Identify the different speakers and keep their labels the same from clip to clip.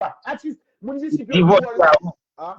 Speaker 1: Atis moun disip yo di wòl
Speaker 2: la.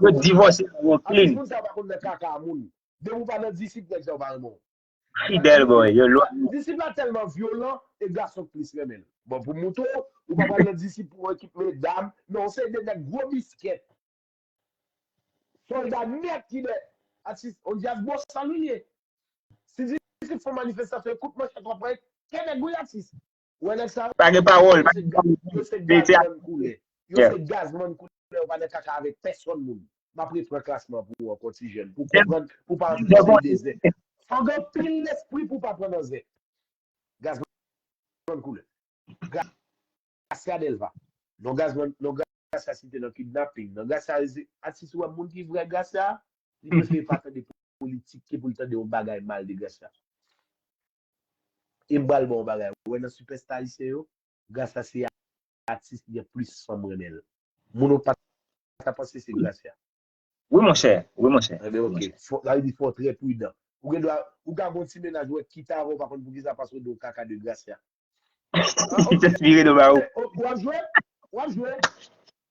Speaker 2: Yo divòse yo klin. Atis moun sa yo pa
Speaker 1: konn nan kaka a moun. Depi ou pa nan disip nèg sa yo pa renmen w. Fidèl bòy
Speaker 2: yo lwa. Disip la tèlman
Speaker 1: vyolan e gason k plis renmen l. Bon pou mouton ou pa pral nan disip pou yon ekip medam men yon seri de nèg gwo biskèt. Sòlda nèt ki nèt. Atis on djaz bosal ou ye. Si disip fon manifestasyon e kout manchèt w ap pran kè nèg wi atis. Ou wè nèg sa yo? Pa gen pawòl. Yo se gaz, yo se gazman koulè. Yo se gazman koulè. Yo pa nan kaka avèk pèsòn moun. M ap repran klasman pou ou ankò ti jèn. Pou w konprann, pou w pa antre nan dèy de zè. Fò w gen anpil lespri pou w pa pran nan zè. Gazman koulè. Gracia Delva. Non gazman, non Gracia site nan kidnaping. Non Gracia se atis ou wè moun ki vrè Gracia a? Li prefere pa tande politik ke pou l tande yon bagay mal de Gracia. Em pral baw bagay ou wè nan sipèsta ayisyen yo Gracia se atis ki gen plis fanm renmenl moun ou pata panse se Gracia. Wi monchè
Speaker 2: wi monchè. Ebyen ok sa
Speaker 1: vle
Speaker 2: di
Speaker 1: fòw trè pridan ou gen dwa ou ka gon ti mennaj ou wè kit avan ou pa konn poukisa paske ou do kaka de Gracia. Ou
Speaker 2: ap jwe? Ou ap
Speaker 1: jwe?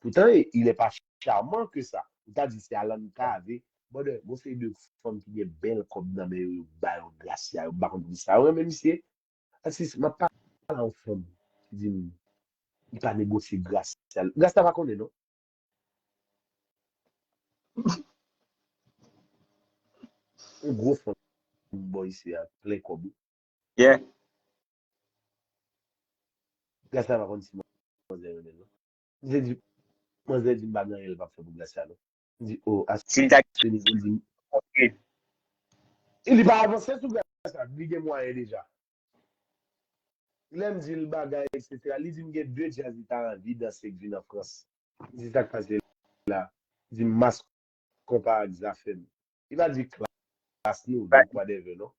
Speaker 1: Poutan il n'est pas charmant ke sa. Ou ta di se Alan Cavé. Brother, gon seri de fanm ki gen bèl kòb nan men yo, yo ba yo Gracia, yo pa konn poukisa yo renmen misye. Atis, m'ap pale a yon fanm ki di m li pa negosye Gracia. Gracia pa konnen non. Yon gwo fanm bò isi a, plen kòb wi.
Speaker 2: Yeah.
Speaker 1: Gracia pa konn si manzè renmen l non. Misye di, manzè di m pa gen anyen l pa p fè pou Gracia non. M di, oh, a Si l ta se nivou l di m. kontinye. E li pa avanse sou Gracia, li gen mwayen deja. Lè m di l bagay eksetera, li di m gen 2 djaz li ta anvi danse k vin an Frans. M di, sa k pase la? Li di m Mass Konpa ak Zafèm. Li pa di Klass nou, Li pa di. 2 kwadèvè non.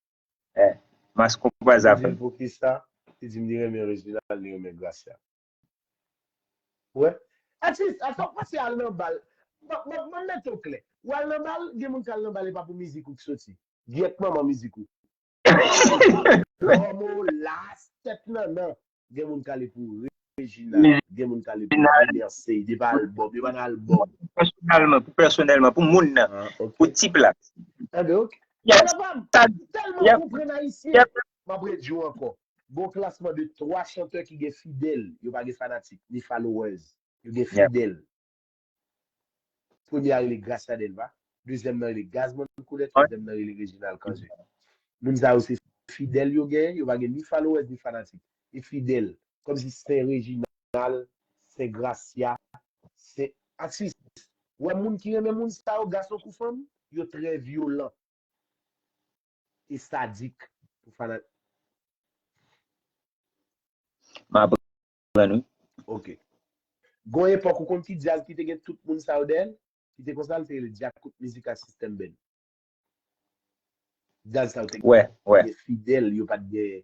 Speaker 1: Eh, Mass
Speaker 2: Konpa, M di Zafèm. l poukisa? Li
Speaker 1: di m li renmen Reginald, li renmen Gracia. Wè. At least a fòk pase al nan bal. Bon bon mwen mete w klè. Ou al nan bal, gen moun k al nan bal e pa pou mizik ou k soti. Gyèt manman mizik ou. Dòmo, Las, Tèt Nannan. Gen moun k ale pou Regina, gen moun k ale pou Junior Seid e pa albòm, e pa nan albòm. Pèsonèlman, pou
Speaker 2: pèsonèlman, pou moun nan, pou tip la. An donk,
Speaker 1: Nannan pa
Speaker 2: m, m tèlman
Speaker 1: konprann ayisyen. Map redi w ankò, gon klasman de 3 chantè ki gen fidèl, yo pa gen fanatik, ni followers, yo gen Yeah. fidèl. Premye a rele Gracia Delva, dezyèm nan rele Gazzman Colet, twazyèm nan rele Reginald Cange. Moun sa yo se fidèl yo gen, yo pa gen ni followers ni fanatik. E fidèl, kòm si Sen Reginald, Sen Gracia, Sen Atis, ou wè moun ki renmen moun sa yo, gason kou fanm, yo trè vyolan. e sadik pou fanatik. M aprann wi. Ok. Gon epòk ou konn ki djaz ki te gen tout moun sa yo dèyè l? Ki te konsa l te rele Djakout Mizika System Band. Djaz sa yo te gen fidèl
Speaker 2: yo
Speaker 1: pat gen.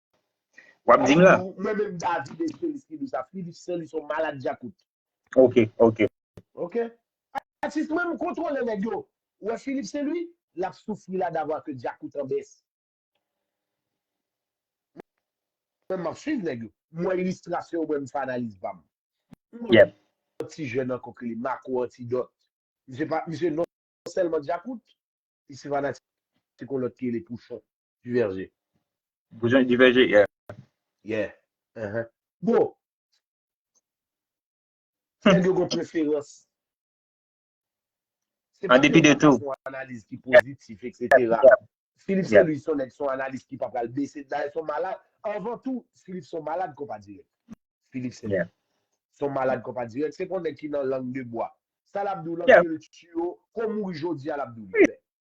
Speaker 1: Wap dim la. Mwen menm David e Philips ki di sa. Philips se li son malad djakout. Ok
Speaker 2: ok.
Speaker 1: Ok. Atis mwen m kontrole nèg yo. Ou wè Philips se li? Lap soufri la d'avoir que djakout en baisse. Mwen map swiv nèg yo. M wè ilistrasyon yo mwen m fè analiz pam. Yep.
Speaker 2: Yon ti jèn
Speaker 1: ankò ki rele Marco Antidot. Misye pa misye non sèlman djakout. Li se fanatik yon lòt ki rele Pouchon. Diverge. Boujon
Speaker 2: diverge, yeah. Yeah.
Speaker 1: Uh-huh. Bro, nèg yo gon preferans.
Speaker 2: Se pa tout moun ki fon analiz ki
Speaker 1: pozitif, etc. Philippe Saint-Louis son nèg son analiz ki pa pral bese, dayè son malad. Anvan tou, Philippe son malad konpa dirèk. Philippe Saint-Louis. Son
Speaker 2: malad
Speaker 1: konpa dirèk. Se pon nèg ki nan lang de bwa. Sa l ap di w lan, ke l tiyo,
Speaker 2: kou
Speaker 1: mouri jodi a l ap di w li klè.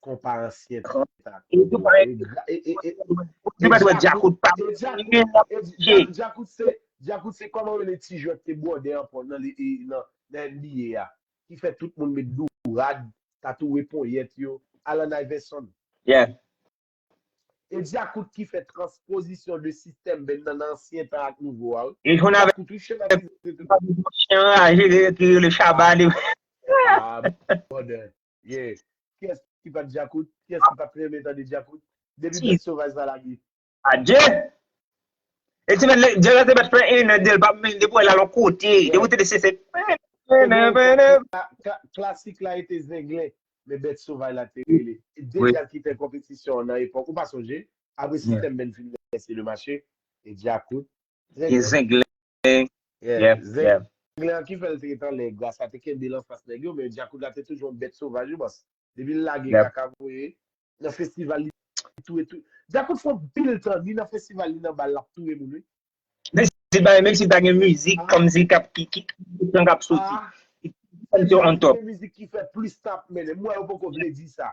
Speaker 1: Konpa ansyen pita kout la. E djakout pa de djakout. E djakout se kòman yo le ti jwèt te bwode an pon nan NBA a. Ki fè tout moun met dou rad, tatouwe ponyèt yo. Alan Iverson.
Speaker 2: Yeah.
Speaker 1: E djakout ki fè transpozisyon de sistèm ben nan ansyen tan ak nouvo a. E jwèt nan djakout ou
Speaker 2: chè nan djakout. Chè an aje ki rele chaba li. Ah
Speaker 1: brother. Yeah. Kiyès ki pat djakout? Kiyès ki pat renmen tande djakout? Depi bèt sovaj sa lage. Adje!
Speaker 2: E ti nèg djaz la te mèt fè 1 an 2 l pa menm depi w wè l al on kote depi w tande se se
Speaker 1: Klasik la rete zenglen men bèt sovaj la te rele. E 2 djaz ki fè konpetisyon nan epòk ou pa sonje? Apre System band fin lese le mache e djakout. Zenglen.
Speaker 2: Zen.
Speaker 1: Yeah, Zen nèg la ki fèl te ret anlè Grace la te kenbel anfas nèg yo men Djakout la te toujou yon bèt sovaj wi bòs depi l lage kaka voye nan festival li touye tout Djakout fè anpil tan ni nan festival ni nan bal lap touye moun wi. Menm
Speaker 2: si l pa gen mizik kòmsi kap ki ki tout tan kap soti. Se l ki gen mizik ki fè plis
Speaker 1: tan ap mennen m wè yo poko vle di sa.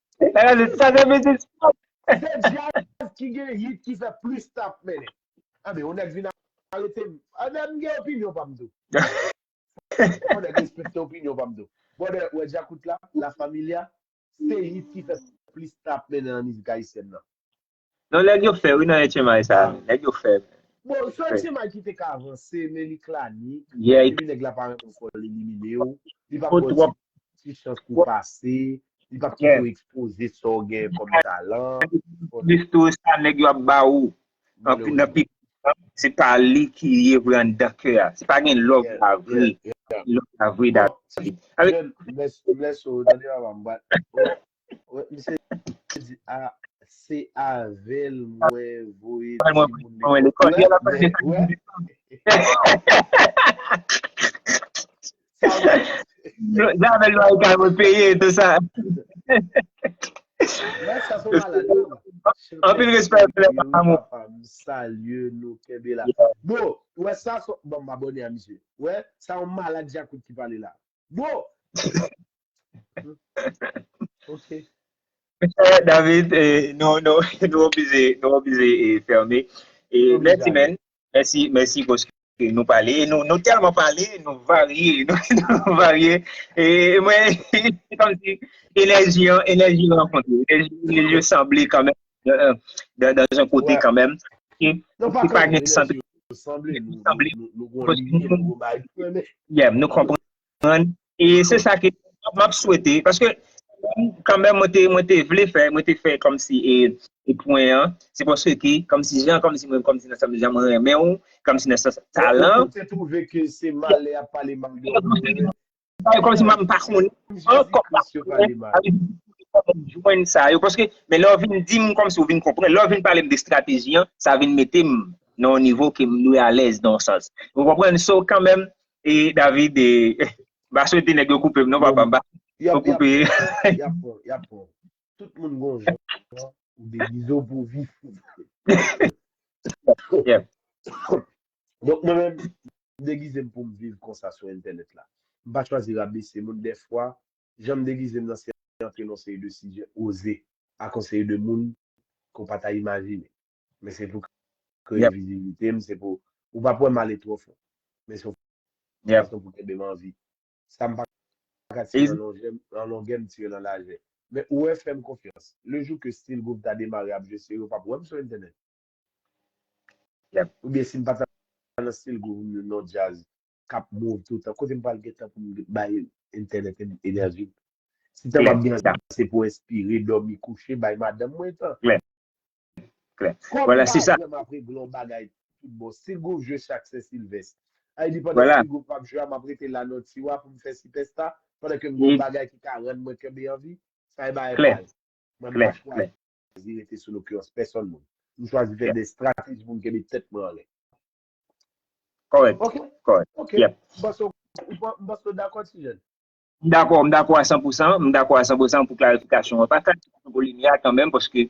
Speaker 2: Se djaz
Speaker 1: ki gen hit ki fè plis tap mennen. Anben yon nèg vin arete m. Anben m gen opinyon pa m tou. Fò nèg respekte opinyon pa m tou. Brother, ou wè djakout la, la familia, se hit ki fè plis tap mennen nan mizik ayisyèn nan. Non nèg
Speaker 2: yo fè wi nan etchemay sa a nèg yo fè. Bon sèl Etchemay
Speaker 1: ki te ka avanse men li klanik epi nèg la pa
Speaker 2: renmen
Speaker 1: fòl elimine w li pap baw ti ti chans pou w pase li pap kite w ekspoze sa w gen kòm talan Anplis tou
Speaker 2: sa nèg yo ap ba ou anpi nan pi se pa li ki ye vre anndan kè a se pa gen love la vre love la vre David Avèk Bless
Speaker 1: Bless oh tande papa m bat oh Misye di a se avel mwen voye ti moun lekòl
Speaker 2: la. Nan avel lwa ekay mwen peye tout sa.
Speaker 1: Mwen sa sou malade
Speaker 2: non. Anpil respè pou lè papa mwen. Papa m salye
Speaker 1: nou kenbe la. Bon, wè sa sou bon m abone a misye. Wè, sa yon malade djakout ki pale la. Bro! Ok.
Speaker 2: David, nou, nou, nou oblije, nou oblije e ferme. E Oblije mèsi ale. men, mèsi, mèsi paske nou pale. E nou, nou tèlman pale, nou varye, nou, nou varye. E mwen, se kòm si enèji an, enèji rankontre, enèji, enèji yo sanble kanmen. Dans yon kote kanmenm. Non pa kanmenm,
Speaker 1: men nan sou yo sanble, nou gwen yon lini,
Speaker 2: nou gwen bay pou yon men. Yèm, nou konprann. E se sa ke m ap swete, paske kanmenm mwen te vle fè, mwen te fè kòm si e pwen an, se paske ki, kòm si jan, kòm si mwen, kòm si nan sèm jan mwen renmen ou, kòm si nan sèm talan. Ou te twouve ke se
Speaker 1: malè a pale mal de ou, Sa
Speaker 2: yo kòmsi mwen pa konnen ankò pa konnen sa yo kòmsi mwen jwenn sa yo paske men lè w vin di m kòmsi w vin konprann lè w vin pale m de strateji an sa vin mete m nan yon nivo ke m dwe alèz nan yon sans ou konprann so kanmèm e David e m pa swete nèg yo koupe m non papa m pa swete yo koupe y ap pran
Speaker 1: y ap pran tout moun gon jan ou degize w pou w vif
Speaker 2: yep
Speaker 1: Donk mwen menm, m degize m pou m viv konsa sou entènèt la. M pa chwazi rabese moun. Dèfwa, jan m degize m nan se antre nan yon seri de sijè oze ak yon seri de moun ke w pa ta imajine. Men se pou kreye viziblite m, se pou ou pa pou wè m ale twò fon. Men se yon fason pou kenbe m an vi. Sa m pa ka tire nan longè, nan longè m tire nan lajè. Men ou wè, fè m konfyans, lejou ke Still Groove ta demare ap jwe se yo pa pou wè m sou entènèt. Yep ou byen sim pata nan stil group m yo non djaz kap move toutan kote m pral gen tan pou m bay entènèt enèji m si tan pap gen sa se pou enspire dòmi kouche bay madanm mwen tan kòm
Speaker 2: m pa janm ap regle yon bagay
Speaker 1: tout bon stil group jwe chak sen silvès a epi pandan stil group pap jwe a map
Speaker 2: rete
Speaker 1: la nan tiwa pou m fè sipèsta pandan ke m gen yon bagay ki ka rann mwen kenbe anvi sa e bagay pal mwen
Speaker 2: m pa chwazi.
Speaker 1: chwazi rete sou lokirans pèsòn moun. M chwazi fè de strateji pou m kenbe tèt mwen anlè.
Speaker 2: Kòrèk. Ok. Kòrèk. Ok. Yep. M
Speaker 1: panse
Speaker 2: w m
Speaker 1: panse w dakò ti jèn. M dakò. M
Speaker 2: dakò a san pou san. M dakò a san pou san pou klarifikasyon an. Pa sa ki pran volim ya kanmenm paske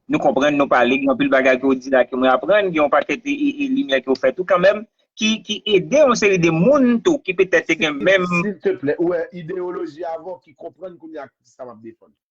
Speaker 2: nou konprann nou pale gen anpil bagay ke w di la ke mwen aprann gen yon pakèt e limyè ke w fè tou kanmenm ki ki ede yon seri de moun tou ki petèt te gen menm. Silteplè. Ou wè
Speaker 1: ideyoloji avan w ki konprann kounya sa m ap defann.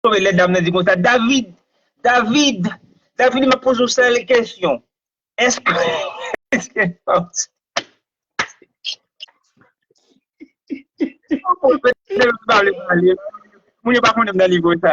Speaker 2: Tande lè dam nan di konsa, David, David, David map poze w sèl kesyon, eske Moun yo pa konnen m nan nivo sa.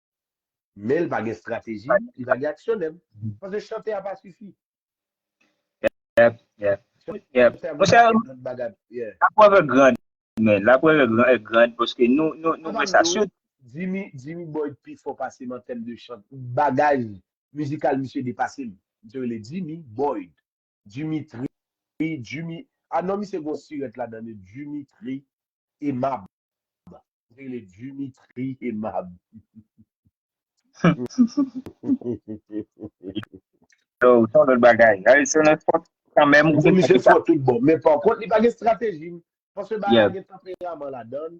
Speaker 1: Men li pa gen strateji, li pa gen aksyonè. Paske chante a pa sifi. Yep,
Speaker 2: yep. Monchè, la preuve est grande men. La preuve est grande paske nou wè sa sou. Jimmy
Speaker 1: Boyd pi fò pase m an tèm de chant. Bagaj mizikal misye depase m. Misye rele Jimmy Boyd. Dimitri Djimi ah non misye gon sirèt ladan li Dimitri Emab li rele Dimitri Emab humm.
Speaker 2: Yo se yon lòt bagay. Harrison an fò kanmenm ou se sa ki sa. Misye fò tout bon
Speaker 1: men pankont li pa gen strateji paske bagay la gen tanperaman ladan